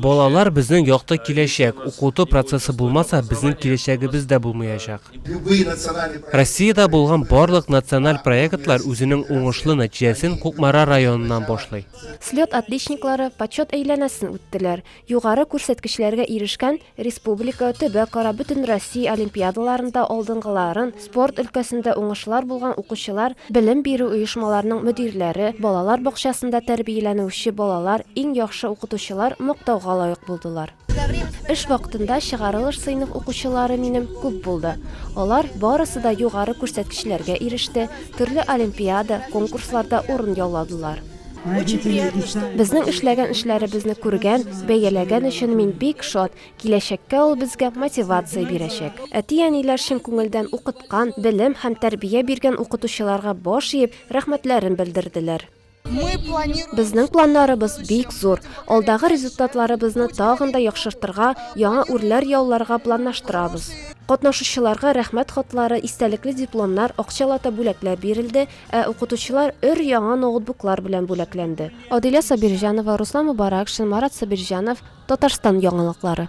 Балалар, безнең якты киләчәк. Укыту процессы булмаса, безнең киләчәгебез дә булмаячак. Россиядә булган барлык националь проектлар үзенең уңышлы нәтиҗәсен Кукмара районыннан башлый. Слет отличниклары почет әйләнәсен үттеләр, югары күрсәткечләргә ирешкән республика, төбәкара, бөтенроссия олимпиадаларында алдынгыларын, Спорт өлкәсендә уңышлар булган укучылар, белем бирү оешмаларының мөдирләре, балалар бакчасында тәрбияләнүче балалар, иң яхшы укытучылар мактауга лаек булдылар. Эш вакытында чыгарылыш сыйныф укучылары минем күп булды. Алар барысы да югары күрсәткечләргә иреште, төрле олимпиада, конкурсларда урын яуладылар. Безнең эшләгән эшләребезне күргән, бәяләгән өчен мин бик шат, Киләчәккә ул безгә мотивация бирәчәк. Әти-әниләр чын күңелдән укыткан, белем һәм тәрбия биргән укытучыларга баш иеп, рәхмәтләрен белдерделәр. Безнең планнарыбыз бик зур. Алдагы результатларыбызны тагын да яхшыртырга, яңа үрләр яуларга планлаштырабыз. Катнашучыларга рәхмәт хатлары, истәлекле дипломнар, акчалата бүләкләр бирелде, ә укытучылар өр-яңа ноутбуклар белән бүләкләнде. Адилә Сабирҗанова, Руслан Мубаракшин, Марат Сабирҗанов, Татарстан яңалыклары.